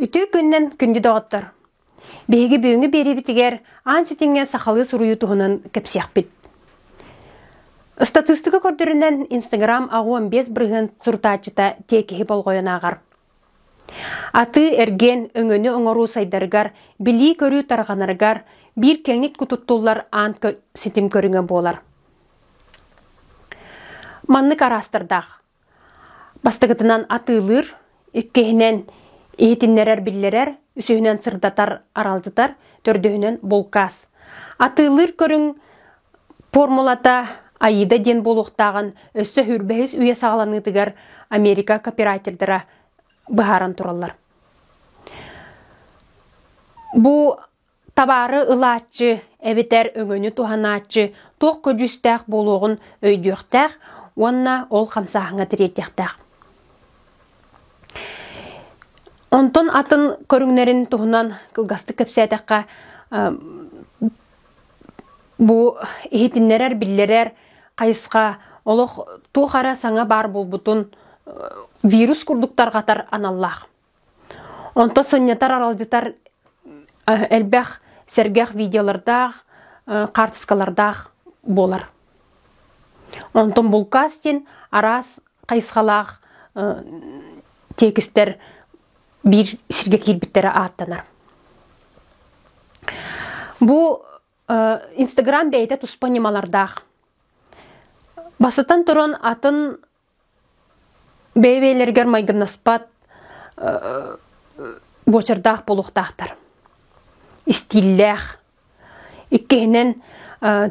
Үтүү күннэн күндү доҕоттор! Биһиги бүгүҥҥү биэриибитигэр аан ситиҥҥэ сахалыы суруйуу туһунан кэпсиэхпит. Ыстатыыстыка көрдөрүнэн Инстаграм аҕа он бес бырыһыан сурутааччыта тиэкиһи болҕойон ааҕар. Атыы-эргиэн өҥөнү оҥоруу сайдарыгар, билии-көрүү тарҕанарыгар биир кэҥник кутуттуллар аан ситим көрүҥэ буолар. Маннык араастардаах. Бастакытынан атыылыыр, иккиһинэн иһитиннэрэр-биллэрэр, үсүһүнэн сырдатар, аралдьытар, төрдүһүнэн булкаас. Атыылыыр көрүҥ Формулата Аида диэн буолуохтааҕын өссө үһүр бэһис үйэ саҕаланыытыгар Америка копирателлэрэ быһааран тураллар. Бу табаары ылааччы эбэтэр өҥөнү туһанааччы туох көдьүүстээх буолуоҕун өйдүөхтээх уонна ол хамсааһыҥҥа тириэрдиэхтээх. Онтон атын көрүҥнэрин туһунан кылгастык кэпсээтэххэ, Бу иһитиннэрэр, биллэрэр хайысха олох туох эрэ саҥа баар буолбутун вирус курдук тарҕатар аналлаах. Онто сынньатар, аралдьытар элбэх сэргэх видеолардаах, хаартыскалардаах буолар. Онтон булкаст диэн араас хайысхалаах тиэкистэр биир сиргэ киирбиттэрэ ааттанар. Бу Инстаграм бэйэтэ туспа ньымалардаах. Бастатан туран атын бэйэ-бэйэлэригэр майгыннаспат буочардаах болуохтаахтар. Истииллээх, Иккиһинэн,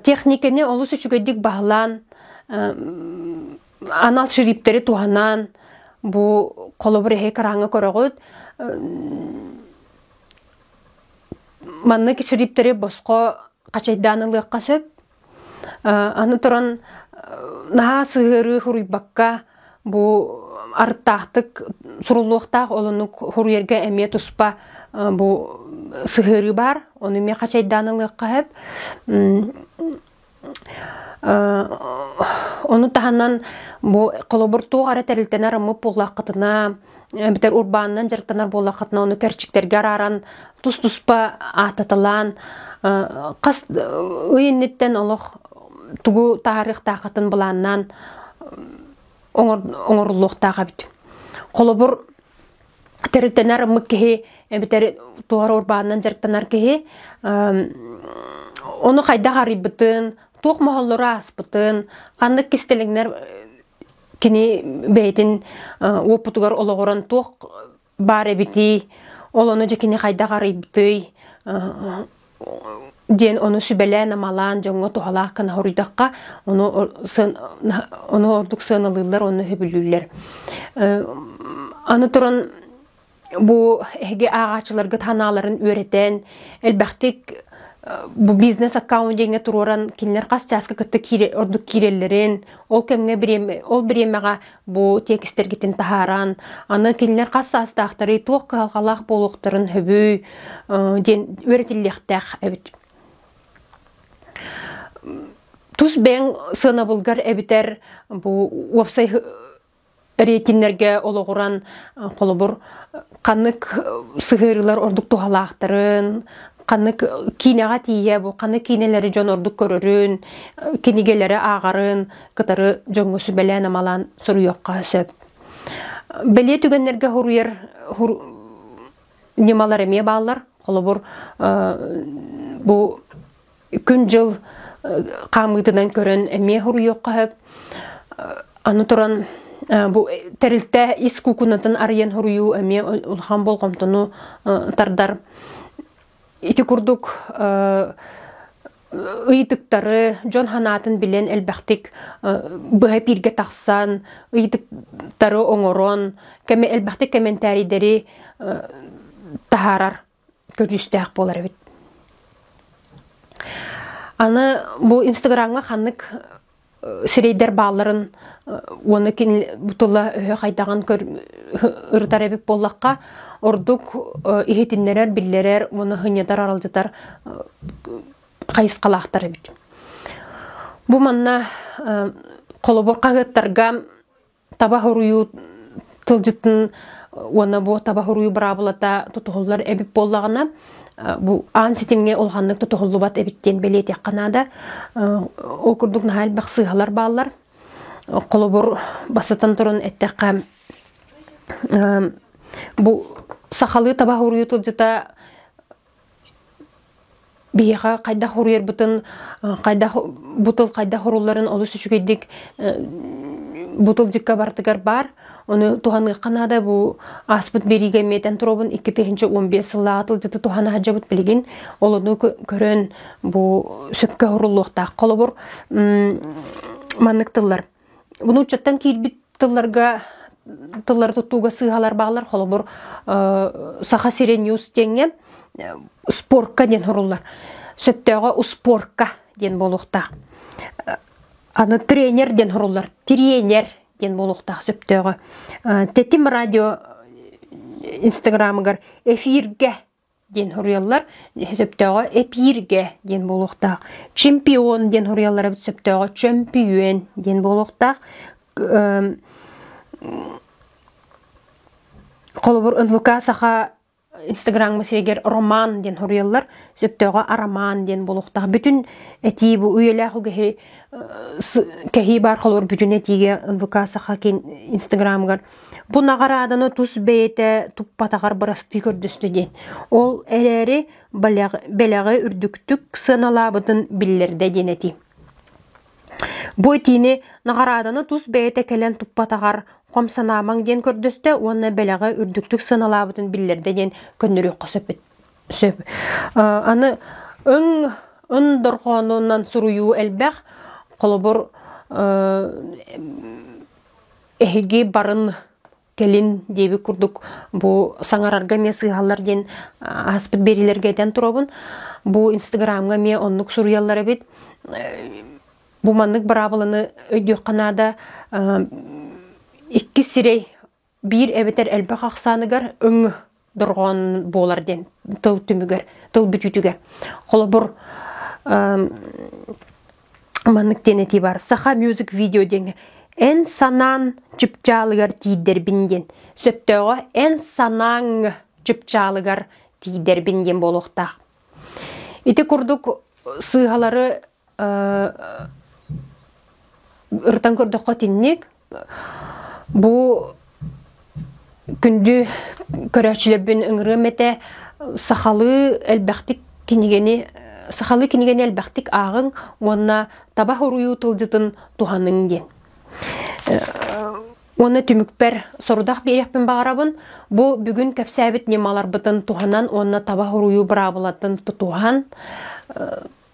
техникэни олус үчүгэйдик баһылаан, анал шриптэри туһанаан, бу холобур эһи кырааҥҥа көрөҕүт. Маннык шриптэри босхо хачайдаан ылыахха сөп. Аны туран наһаа сыһыарыы суруйбакка бу арыттаахтык суруллуохтаах ол оннук суруйарга эмиэ туспа бу сыһыарыы баар ону эмиэ хачайдаан ылыахха сөп ону таһынан бу холобур туох эрэ тэрилтэни араммыт буоллаххытына эбэтэр урбаанынан дьарыктанар буоллаххытына ону кэрчиктэргэ арааран тус-туспа ааттаталаан хас ый инниттэн олох тугу таһаарыахтааххытын былааннаан оҥоруллуохтаах эбит холобур тэрилтэнэр ыммык киһи эбэтэр туора урбаанынан дьарыктанар киһи ону хайдах арыйбытын туох моһоллору ааспытын ханнык кистэлэҥнэр кини бэйэтин уопутугар олоҕуран туох баар эбитий, ол ону дьэ кини хайдах арыйбытый, диэн ону сүбэлээн-амалаан дьоҥҥо туһалаах гына хоруйдахха, ону, сыан, ону ордук сыаналыыллар, онно сөбүлүүллэр. Аны туран бу эһиги ааҕаачыларгыт ханааларын үөрэтэн элбэхтик бу бизнес аккаунт диэҥҥэ туруоран кинилэр хас чааска кытта киирэ ордук киирэллэрин ол кэмҥэ бириэмэ ол бириэмэҕэ бу тиэкистэргитин таһааран аны кинилэр хас саастаахтарый туох кыһалҕалаах буолуохтарын сөбүй диэн үөрэтиллиэхтээх эбит тус бэйэҥ сыанабылгар эбитэр бу уопсай рейтиннэргэ олоҕуран холобур ханнык сыһыарыылар ордук туһалаахтарын, ханнык киинэҕэ тиийэ бу ханнык киинэлэри дьон ордук көрөрүн, кинигэлэри ааҕарын кытары дьоҥҥо сүбэлээн-амалаан суруйуохха сөп. Бэлиэ түгэннэргэ хоруйар ньымалар эмиэ бааллар. Холобур, бу күн-дьыл хаамыытынан көрөн эмиэ хоруйуохха сөп. Аны туран бу тэрилтэ ис куукунатын арыйан хоруйуу эмиэ улахан болҕомтону тардар. Ити курдук ыйытыктары дьон санаатын билэн элбэхтик быһа пииргэ тахсан ыйытыктары оҥорон кэми элбэхтик комментарийдэри таһаарар көрүүстээх буолар эбит аны бу инстаграмҥа ханнык сирэйдэр баалларын уонна кини бу тыла өһө хайдаҕын ырытар эбит буоллахха ордук иһитиннэрэр биллэрэр уонна һынньытар аралдьытар хайысхалаахтар эбит бу манна холобур хаһыаттарга таба хоруйуу тылдьытын уонна бу таба хоруйу быраабылата тутуһуллар эбит буоллаҕына бу аан ситимҥэ улаханнык тутуһуллубат эбит диэн бэлиэтиэххэ наада ол курдук наһаа элбэх сыыһалар бааллар холобур бастатан туран эттэххэ бу сахалыы таба хоруйу тылдьыта Биһиэхэ хайдах уруйарбытын, хайдах бутул хайдах урулларын олус үчүгэйдик бутулдьыкка барытыгар баар. Ону туһаныахха наада бу ааспыт биэриигэ эмиэтин туробун икки тыһыынча уон биэс сыллааҕы тылдьыты туһан аһардьабыт билигин. Олону көрөн бу сөпкө уруллуохтаах. Холобур, маннык тыллар: нууччаттан киирбит тылларга тыллары тутууга сыыһалар бааллар холобур саха сире ньюс диэҥҥэ спорка диэн хоруллар сөптөөҕө успорка диэн буолуохтаах аны тренер диэн хоруллар тренер диэн буолуохтаах сөптөөҕө тэтим радио инстаграмыгар эфиргэ диэн суруйаллар сөптөөҕө эпииргэ диэн буолуохтаах чемпион диэн суруйаллар эбит сөптөөҕө чөмпүйүөн диэн буолуохтаах холобур нвк саха инстаграм сиригэр роман диэн суруйаллар сөптөөҕө арамаан диэн буолуохтаах бүтүн этии бу үйэлээх үгэһи кэһии баар холобур бүтүн этиигэ нвк саха инстаграмыгар Бу наҕарааданы тус бэйэтэ туппатаҕар бырастыы көрдөстө диэн. Ол эрээри бэлэҕи, бэлэҕи үрдүктүк сыаналаабытын биллэрдэ диэн этии. Бу этиини наҕарааданы тус бэйэтэ кэлэн туппатаҕар хом санаамаҥ диэн көрдөстө уонна бэлэҕи үрдүктүк сыаналаабытын биллэрдэ диэн көннөрүөххэ сөп. сөп. Аны өҥ ын дорҕоонунан суруйуу элбэх. Холобур, эһиги барын кэлин диэби курдук бу саҥарарга эмиэ сыыһаллар диэн аспыт биэриилэргэ этэн турабын бу инстаграмҥа эмиэ оннук суруйаллар эбит бу маннык быраабыланы өйдүөххэ наада иккис сирэй биир эбэтэр элбэх ахсааныгар өҥ дорҕоон буолар диэн тыл түмүгэр, тыл бүтүүтүгэр. Холобур, маннык диэн этии бар. Саха music видео диэҥҥэ эн санаан чыпчаалыгар тиийдэрбин диэн. Сөптөөҕө эн санааҥ чыпчаалыгар тиийдэрбин диэн буолуохтаах. Ити курдук сыыһалары Ырытан көрдөххө итинник. Бу күндү көрөөччүлэрбин ыҥырыам этэ. Сахалыы элбэхтик кинигэни сахалыы кинигэни элбэхтик ааҕыҥ уонна таба хоруйуу тылдьытын туһаныҥ диэн. Уонна түмүкпэр сорудах биэриэхпин баҕарабын. Бу бүгүн кэпсээбит ньымаларбытын туһанан уонна таба хоруйуу быраабылатын тутуһан